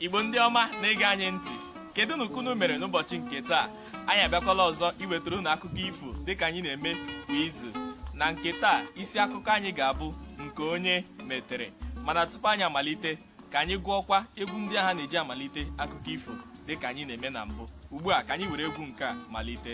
igbo ndị ọma na-ege anyị ntị kedunụ ka unu mere n'ụbọchị nke taa anyị abịakwala ọzọ iwetara unu akụkọ ifo dịka anyị na-eme kwa izu na nke taa isi akụkọ anyị ga-abụ nke onye metere mana tupu anyị amalite ka anyị gụọkwa egwu ndị ahụ a na-eji amalite akụkọ ifo dịka anyị na-eme na mbụ ugbu a ka anyị were egwu nke a malite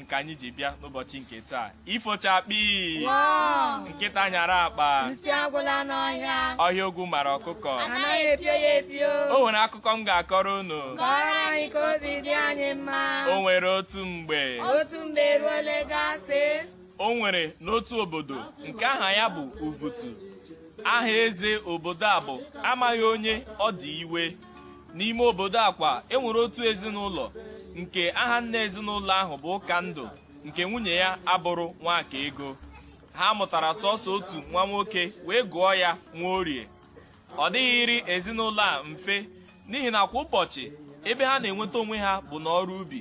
nke anyị ji bịa n'ụbọchị nke taa ifo chakpị nkịta nyara akpa nsị agwụla n'ọhịa ọhịa ogwu mara ọkụkọ anaghị epio ya epio o nwere akụkọ m ga-akọrọ unu kọrọ anyị ka obi dị anyị mma o nwere otu mgbe otu mgbe eruole gafee o nwere n'otu obodo nke aha ya bụ Uvutu aha eze obodo a bụ amaghị onye ọ dị iwe n'ime obodo a kwa enwere otu ezinụlọ nke aha nna ezinụlọ ahụ bụ ụkandụ nke nwunye ya abụrụ nwakaego ha mụtara sọsọ otu nwa nwoke wee gụọ ya nwaorie ọ dịghịrị ezinụlọ a mfe n'ihi na kwa ụbọchị ebe ha na-enweta onwe ha bụ n'ọrụ ubi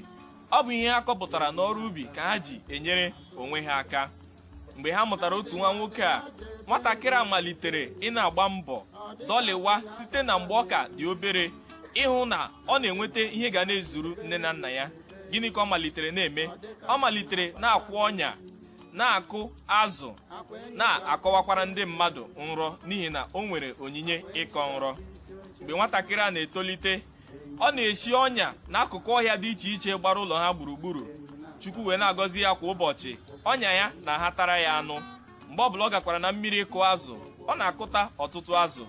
ọ bụ ihe ha kọpụtara n'ọrụ ubi ka ha ji enyere onwe ha aka mgbe ha mụtara otu nwa nwoke a nwatakịrị a malitere ị na-agba mbọ dọlịwa site na mgbe ọ ka dị obere ịhụ na ọ na-enweta ihe ga na-ezuru nne na nna ya gịnị ka ọ malitere na-eme ọ malitere na-akwụ ọnya na-akụ azụ na-akọwakwara ndị mmadụ nrọ n'ihi na o nwere onyinye ịkọ nrọ mgbe nwatakịrị a na-etolite ọ na-esi ọnya n'akụkụ ọhịa dị iche iche gbara ụlọ ha gburugburu chukwu wee na-agọzi ya kwa ụbọchị ọnya ya na-ahatara ya anụ mgbe ọbụla ọ gakwara na mmiri ịkụ azụ ọ na-akụta ọtụtụ azụ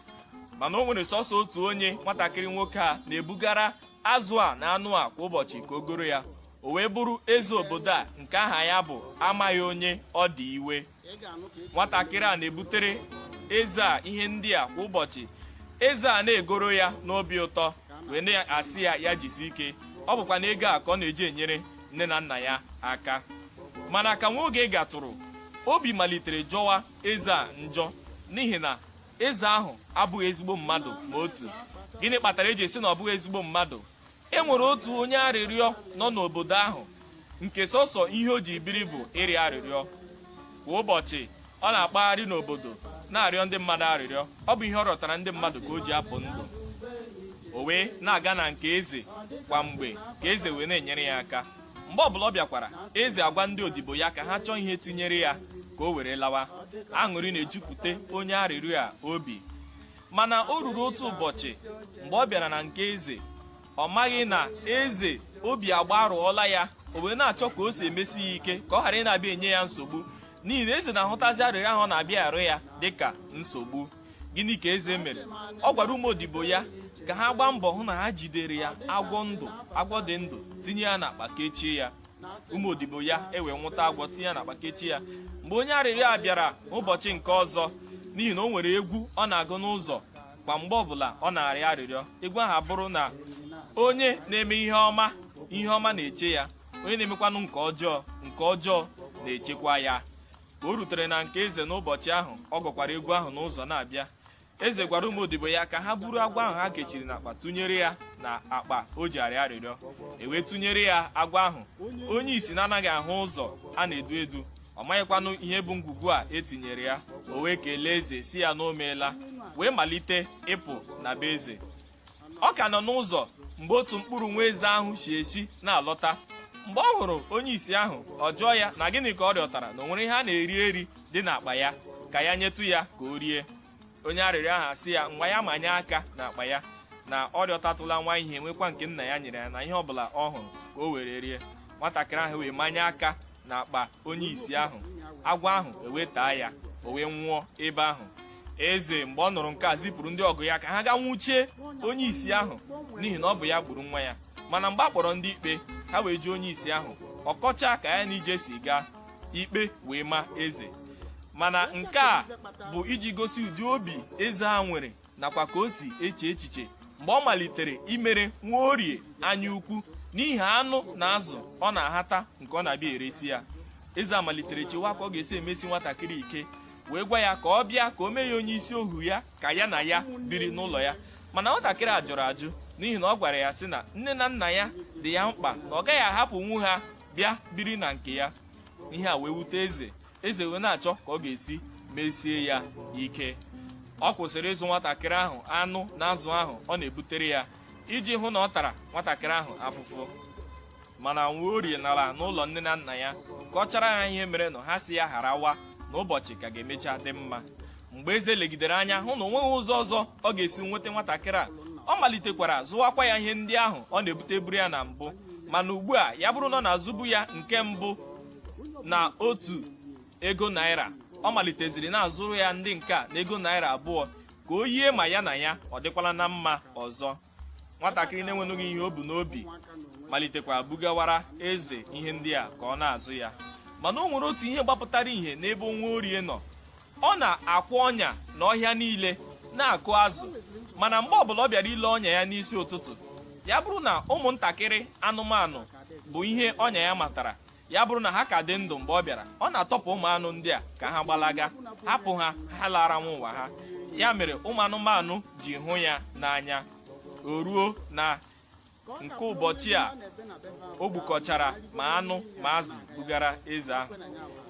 mana o nwere sọsọ otu onye nwatakịrị nwoke a na-ebugara azụ a na anụ a kwa ụbọchị ka o goro ya o wee bụrụ eze obodo a nke aha ya bụ amaghị onye ọ dị iwe nwatakịrị a na-ebutere eze a ihe ndị a kwa ụbọchị eze a na-egoro ya n'obi ụtọ wee na-asị ya ya jisi ike ọ bụkwanụ ego a ka ọ na-eji enyere nne na nna ya aka mana ka nwa oge gatụrụ obi malitere jọwa eze a njọ n'ihi na eze ahụ abụghị ezigbo mmadụ ma otu gịnị kpatara eji sị na ọ bụghị ezigbo mmadụ e nwere otu onye arịrịọ nọ n'obodo ahụ nke sọsọ ihe o ji biri bụ ịrịọ arịrịọ kwa ụbọchị ọ na-akpagharị n'obodo na-arịọ ndị mmadụ arịrịọ ọ bụ ihe ọ rịọtara ndị mmadụ ka o ji apụ ndụ o wee na-aga na nke eze kwa mgbe ka eze wee na-enyere ya aka mgbe ọbụla ọ bịakwara eze agwa ndị odibo ya ka ha chọọ ihe tinyere ya ka o were lawa aṅụrị na-ejupụta onye arịrịọ a obi mana o ruru otu ụbọchị mgbe ọ bịara na nke eze ọ maghị na eze obi agbarụọla ya o wee na-achọ ka o si emesi ya ike ka ọ ghara ị na-abịa enye ya nsogbu n'ihi na eze na-ahụtazi arịrịọ ahụ ọ na-abịa arịọ ya dịka nsogbu gịnị ka eze mere ọ gwara ụmụ odibo ya ka ha gbaa mbọ hụ na ha jidere ya agwọ ndụ agwọ dị ndụ tinye ya n'akpa kechie ya ụmụ odibo ya ewee nwụta agwọ tinye ya n'akpa kechie ya mgbe onye arịrịọ a bịara ụbọchị nke ọzọ n'ihi na o nwere egwu ọ na-agụ n'ụzọ kwa mgbe ọbụla ọ na-arịọ arịrịọ egwu ahụ abụrụ na onye na-eme ihe ọma ihe ọma na-eche ya onye na-emekwanụ nke ọjọọ nke ọjọọ na-echekwa ya ka o rutere na nke eze n'ụbọchị ahụ ọ gụkwara egwu ahụ n'ụzọ na-abịa eze gwara ụmụ odibo ya ka ha buru agwọ ahụ ha kechiri n'akpa tụnyere ya na akpa o ji arịọ arịrịọ ewee tụnyere ya agwọ ahụ onye isi na-anaghị ahụ ụzọ a na-edu edu ọ maghịkwanụ ihe bụ ngwugwu a e tinyere ya o wee kelee eze sị ya na o meela wee malite ịpụ na be eze ọ ka nọ n'ụzọ mgbe otu mkpụrụ nwa eze ahụ si ezi na-alọta mgbe ọ hụrụ onye isi ahụ ọ jụọ ya na gịnị ka ọ rịọtara na o nwere ihe a na-eri eri dị n'akpa ya ka ya nyetụ ya ka o rie onye arịrịọ ahụ asị ya ngwa ya manye aka n'akpa ya na ọ rịọtatụla nwa ihe nwekwa nke nna ya nyere ya na ihe ọbụla ọ hụrụ ka o were rie nwatakịrị ahụ wee manye aka na akpa onye isi ahụ agwọ ahụ ewee taa ya o wee nwụọ ebe ahụ eze mgbe ọ nụrụ nke a zipụrụ ndị ọgụ ya ka ha gaa nwụchie onye isi ahụ n'ihi na ọ bụ ya gburu nwa ya mana mgbe a kpọrọ ndị ikpe ha wee jụọ onye isi ahụ ọ kọchaa ka ya na ije si gaa ikpe wee ma eze mana nke a bụ iji gosi ụdị obi eze a nwere nakwa ka o si eche echiche mgbe ọ malitere imere nwaorie anya ukwu n'ihi anụ na azụ ọ na-ahata nke ọ na-abịa eresi ya eze a malitere chewa ka ọ ga-esi emesi nwatakịrị ike wee gwa ya ka ọ bịa ka o mee ya onye isi ohu ya ka ya na ya biri n'ụlọ ya mana nwatakịrị a jụrụ ajụ n'ihi na ọ gwara ya sị na nne na nna ya dị ya mkpa na ọ gaghị ahapụnwu ha bịa biri na nke ya ihe a wee wute eze eze wee na-achọ ka ọ ga-esi mesie ya ike ọ kwụsịrị ịzụ nwatakịrị ahụ anụ na azụ ahụ ọ na-ebutere ya iji hụ na ọ tara nwatakịrị ahụ afụfụ mana nwaorie nara n'ụlọ nne na nna ya kọchara ha ihe merenụ ha sị ya gharawa na ụbọchị ka ga-emecha dị mma mgbe eze legidere anya hụ na o nweghị ụzọ ọzọ ọ ga-esi nweta nwatakịrị a ọ malitekwara zụwakwa ya ihe ndị ahụ ọ na-ebuteburu ya na mbụ mana ugbu a ya bụrụ na ọ na-azụbu ya nke mbụ na otu ego naira ọ maliteziri na-azụrụ ya ndị nke a na ego naira abụọ ka o yie ma ya na ya ọ dịkwala na mma ọzọ nwatakịrị na-enwenụghị ihe o bu n'obi malitekwa bugawara eze ihe ndị a ka ọ na-azụ ya mana o nwere otu ihe gbapụtara ihe n'ebe nwaorie nọ ọ na-akwụ ọnya na ọhịa niile na-akụ azụ mana mgbe ọbụla ọ bịara ile ọnya ya n'isi ụtụtụ ya bụrụ na ụmụntakịrị anụmanụ bụ ihe ọnya ya matara ya bụrụ na ha ka dị ndụ mgbe ọ bịara ọ na-atọpụ ụmụ anụ ndị a ka ha gbalaga hapụ ha ha lara nwa ụwa ha ya mere ụmụ anụmanụ ji hụ ya n'anya o ruo na nke ụbọchị a o gbukọchara ma anụ ma azụ bugara eze ahụ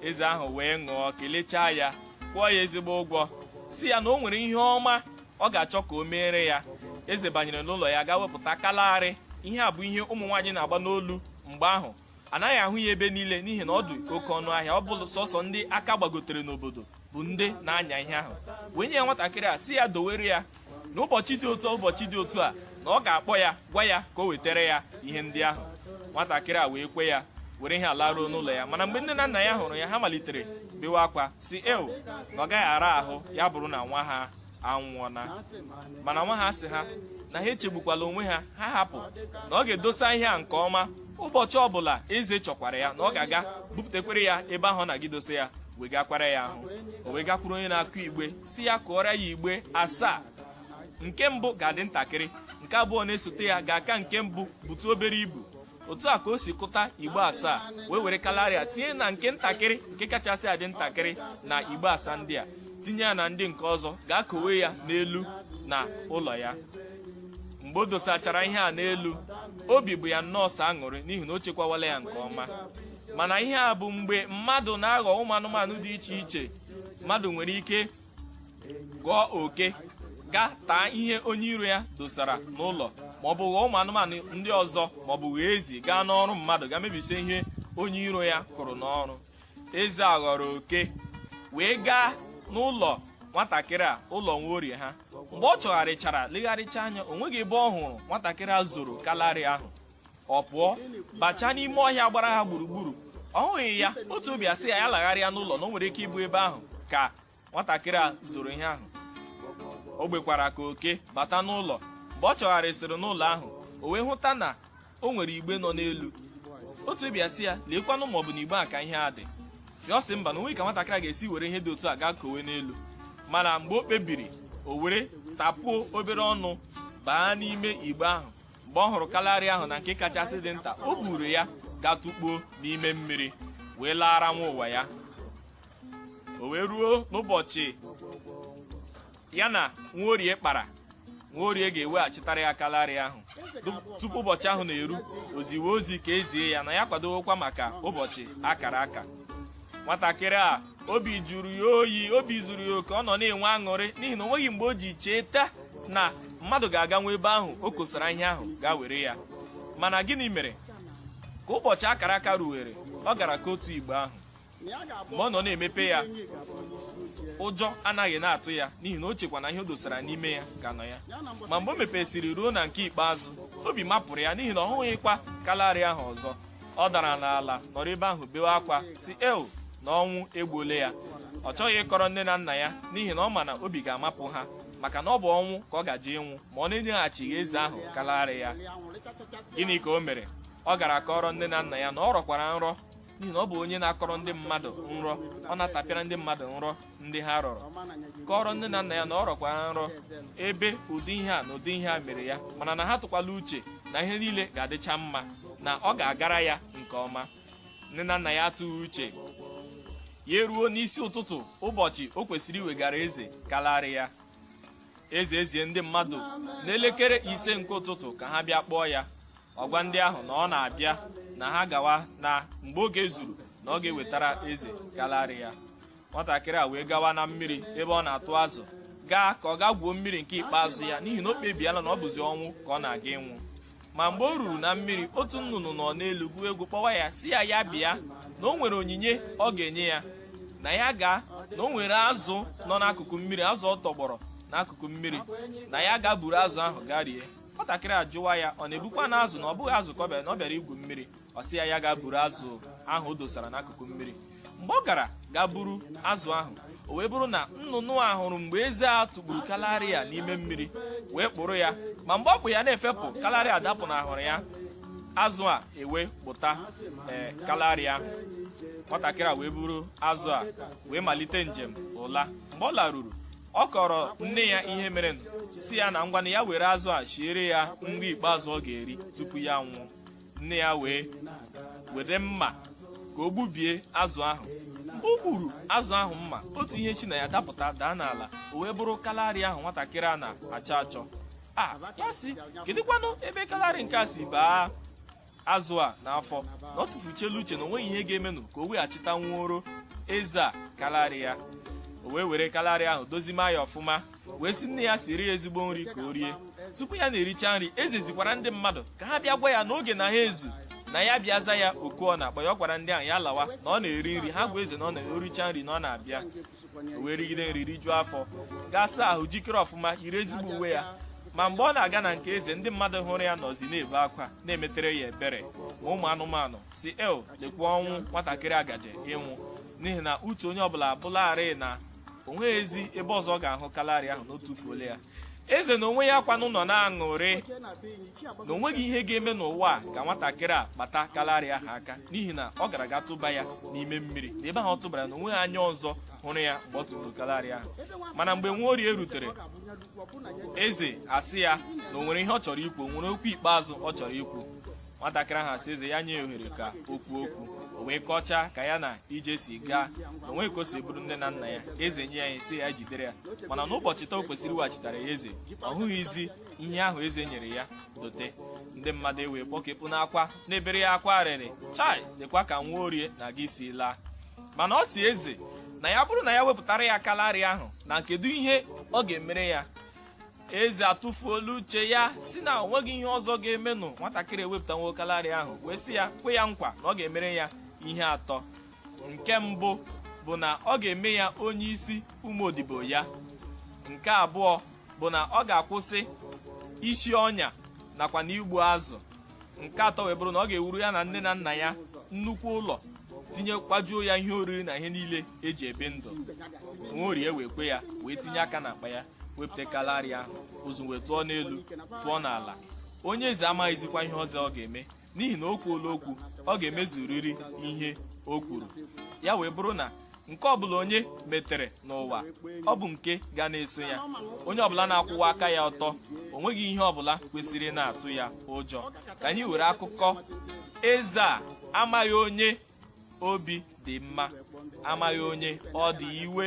eze ahụ wee ṅụọ kelechaa ya kwụọ ya ezigbo ụgwọ sị ya na o nwere ihe ọma ọ ga-achọ ka o meere ya eze banyere n'ụlọ ya gaa wepụta kalari ihe a bụ ihe ụmụ nwaanyị na-agba n'olu mgbe ahụ a naghị ahụ ya ebe niile n'ihi na ọ dị oke ọnụ ahịa ọ bụrụ sọsọ ndị aka gbagotere n'obodo bụ ndị na-anya ihe ahụ wee nye ya nwatakịrị a sị ya dowere ya n'ụbọchị dị otu ụbọchị dị otu a na ọ ga-akpọ ya gwa ya ka o wetara ya ihe ndị ahụ nwatakịrị a wee kwe ya were ihe a laruo n'ụlọ ya mana mgbe nne na nna ya hụrụ ya ha malitere bewe akwa sị eo na ọ gaghị ara ahụ ya bụrụ na nwa ha anwụọna mana nwa ha sị ha na ha echegbukwala onwe ha ha hapụ na ọ ga-edosa ihe a nke ọma ụbọchị ọbụla eze chọkwara ya na ọ ga-aga bupụtakwere ya ebe ahụ ọ na-aga idosa ya wegakwara ya ahụ o wee gakwuru onye na-akụ igbe sị ya kụọrọ ya igbe asaa nke mbụ ga-adị ntakịrị nke abụọ na-esote ya ga-aka nke mbụ butu obere ibu otu a ka o si kụta igbe asaa wee were kalari a tinye na nke ntakịrị nke kachasị adị ntakịrị na igbe asaa ndị a tinye ya na ndị nke ọzọ gaa kowe ya n'elu na ụlọ ya mgbe o dosachara ihe a n'elu obi bụ ya nnọọ sọ aṅụrị n'ihi na o chekwawala ya nke ọma mana ihe a bụ mgbe mmadụ na-aghọ ụmụ anụmanụ dị iche iche mmadụ nwere ike ghọọ oke gaa taa ihe onye iro ya dosara n'ụlọ ma ọ bụ ghọọ ụmụ anụmanụ ndị ọzọ ma ọ bụ ghọọ ezi gaa n'ọrụ mmadụ gaa mebisie ihe onye iro ya kụrụ n'ọrụ eze a ghọrọ oke wee gaa n'ụlọ nwatakịrị a ụlọ nwaorie ha mgbe ọ chọgharịchara legharịcha anya o nweghị ebe ọ hụrụ nwatakịrị a zoro kalari ahụ ọ pụọ bachaa n'ime ọhịa gbara ha gburugburu ọ hụghị ya otu obi asị ya ya lagharịa n'ụlọ na o nwere ike ịbụ ebe ahụ ka nwatakịrị a zoro ihe ahụ o gbekwara ka oke bata n'ụlọ mgbe ọ chọgharịsịrị n'ụlọ ahụ o wee hụta na o nwere igbe nọ n'elu otu obi asị ya leekwanụ ma ọ bụ na igbe a ka ihe a dị ya ọ sị mba na o nweghị ka nwatakịrị a ga-esi were ihe dị otu a gaa kowe n'elu mana mgbe o kpebiri o were tapuo obere ọnụ baa n'ime igbe ahụ mgbe ọ hụrụ kalari ahụ na nke kachasị dị nta o buru ya gaa tụkpuo n'ime mmiri wee laara nwa ụwa ya o wee ruo n'ụbọchị ya na nwaorie kpara nwaorie ga-eweghachitara ya kalari ahụ tupu ụbọchị ahụ na-eru o ziwe ozi ka e zie ya na ya kwadowekwa maka ụbọchị akara aka nwatakịrị a obi jụrụ ya oyi obi zuru ya oke ọ nọ na-enwe aṅụrị n'ihi na o nweghị mgbe o ji cheta na mmadụ ga-aga nwa ebe ahụ o kosara ihe ahụ gaa were ya mana gịnị mere ka ụbọchị akara aka ruwere ọ gara kotuo igbe ahụ mgbe ọ nọ na-emepe ya ụjọ anaghị na-atụ ya n'ihi na o chekwa na ihe o dosara n'ime ya ka nọ ya ma mgbe o mepesịrị ruo na nke ikpeazụ obi mapụrụ ya n'ihi na ọ hụghịkwa kalari ahụ ọzọ ọ dara n'ala nọrọ ebe ahụ bewe akwa sị ee na ọnwụ egbuole ya ọ chọghị ịkọrọ nne na nna ya n'ihi na ọ ma na obi ga-amapụ ha maka na ọ bụ ọnwụ ka ọ gaje ịnwụ ma ọ na-enyeghachighị eze ahụ kalarị ya gịnị ka o mere ọ gara kọrọ nne na nna ya na ọ rọkwara nrọ n'ihi na ọ bụ onye na-akọrọ ndị mmadụ nrọ ọ na-atapịara ndị mmadụ nrọ ndị ha rọrọ kọrọ nne na nna ya na ọ rọkwara nrọ ebe ụdị ihe a na ụdị ihe a mere ya mana na ha atụkwala uche na ihe niile ga-adịcha mma na ọ ga-agara ya nke ọma nne na nna ya atụghị uche ya eruo n'isi ụtụtụ ụbọchị o kwesịrị iwegara eze kalarị ya eze ezie ndị mmadụ n'elekere ise nke ụtụtụ ka ha bịa kpọọ ya ọ gwa ndị ahụ na ọ na-abịa na ha gawa na mgbe oge zuru na ọ ga-ewetara eze kalarị ya nwatakịrị a wee gawa na mmiri ebe ọ na-atụ azụ gaa ka ọ gaa gwuo mmiri nke ikpeazụ ya n'ihi na o kpebiela na ọ bụzi ọnwụ ka ọ na-aga ịnwụ ma mgbe o ruru na mmiri otu nnụnụ nọ n'elu gụọ egwu kpọwa ya sị ya ya bịa na o nwere onyinye ọ ga-enye ya na ya gaa na o nwere azụ nọ n'akụkụ mmiri azụ ọ tọgbọrọ n'akụkụ mmiri na ya gaa buru azụ ahụ gaa rie nwatakịrị ajụwa ya ọ na-ebukwanụ azụ na ọ bụghị azụ ka ọ bịara na ọ bịara igwu mmiri ọ sị ya ya gaa buru azụ ahụ o dosara n'akụkụ mmiri mgbe ọ gara gaa buru azụ ahụ o wee bụrụ na nnụnụ a hụrụ mgbe eze a tụkpuru kalari a n'ime mmiri wee kpụrụ ya ma mgbe ọ kpụ ya na-efepụ kalari a dapụnahụrụ ya azụ a ewee kpụta kalari ahụ nwatakịrị a wee buru azụ a wee malite njem ụla mgbe ọ laruru ọ kọrọ nne ya ihe mere sị ya na ngwana ya were azụ a shiere ya nri ikpeazụ ọ ga-eri tupu ya anwụọ nne ya wee were mma ka o gbubie azụ ahụ mgbe o gburu azụ ahụ mma otu ihe shi na ya dapụta daa n'ala o wee bụrụ kalari ahụ nwatakịrị a na-achọ achọ ya sị kedụkwanụ ebe kalari nke a si baa azụ a n'afọ na ọ tụfuchela uche na o nweghị ihe ga-emenụ ka o weghachitanwuoro eze a kalari ya o wee were kalari ahụ dozima ya ọfụma wee sị nne ya siri ya ezigbo nri ka o rie tupu ya na-ericha nri eze zikwara ndị mmadụ ka ha bịa gwa ya n'oge na ha ezu na ya bịa za ya oku ọ na-akpọ ya ọ gwara ndị ahụ ya lawa na ọ na-eri nri ha gwa eze na ọ na-ericha nri na ọ na-abịa o wee rigide nri rijuo afọ gaa saa ahụ jikere ọfụma yiri ezigbo uwe ya ma mgbe ọ na-aga na nke eze ndị mmadụ hụrụ ya nọzi na-ebe akwa na-emetere ya ebere ma ụmụ anụmanụ sị ee lekwa ọnwụ nwatakịrị a gaje ịnwụ n'ihi na uche onye ọbụla abụlarị na o nweghịzi ebe ọzọ ọ ga-ahụ kalari ahụ na o tufuole ya eze na onwe ya kwanụ nọ na-aṅụrị na o nweghị ihe ga-eme n'ụwa a ka nwatakịrị a kpata kalari ahụ aka n'ihi na ọ gara ga tụba ya n'ime mmiri na ebe ahụ ọ tụbara na o nweghị anya ọzọ hụrụ ya mgbe ọ tụburu kalari ahụ mana mgbe nwaorie rutere eze asị ya na o nwere ihe ọ chọrọ ikwu o nwere okwu ikpeazụ ọ chọrọ ikwu nwatakịrị ahụ asị eze ya nye ohere ka o kwuo okwu o wee kọchaa ka ya na ije si gaa na o nwe ka o si bụrụ nne na nna ya eze nye ya ihe sị ya jidere ya mana n'ụbọchị taa o kwesịrị iweghachitara ya eze ọ hụghịzi ihe ahụ eze nyere ya dote ndị mmadụ ewee kpọkepụ n'akwa na-ebere ya akwa arịrị chai lekwa ka nwaorie na-aga isi laa mana ọ sị eze na ya bụrụ na ya wepụtara ya kalarị ahụ na kedu ihe ọ ga-emere ya eze atụfuola uche ya sị na o nweghị ihe ọzọ ga-emenụ nwatakịrị ewepụtanwuo kalarị ahụ wee sị ya kwe ya nkwa na ọ ga-emere ya ihe atọ nke mbụ bụ na ọ ga-eme ya onye isi ụmụ odibo ya nke abụọ bụ na ọ ga-akwụsị isi ọnya nakwa na igbu azụ nke atọ wee bụrụ na ọ ga-ewuru ya na nne na nna ya nnukwu ụlọ tinye kwajuo ya ihe oriri na ihe niile e ji ebi ndụ nwaorie wee kwe ya wee tinye aka n'akpa ya wepụta kalari a ụzụ wee tụọ n'elu tụọ n'ala onye eze amaghịzikwa ihe ọzọ ọ ga-eme n'ihi na o kwuola okwu ọ ga-emezuriri ihe o kwuru ya wee bụrụ na nke ọbụla onye metere n'ụwa ọ bụ nke ga na-eso ya onye ọbụla na-akwụwa aka ya ọtọ o nweghị ihe ọbụla kwesịrị ịna-atụ ya ụjọ ka anyị were akụkọ eze a amaghị onye obi dị mma amaghị onye ọ dị iwe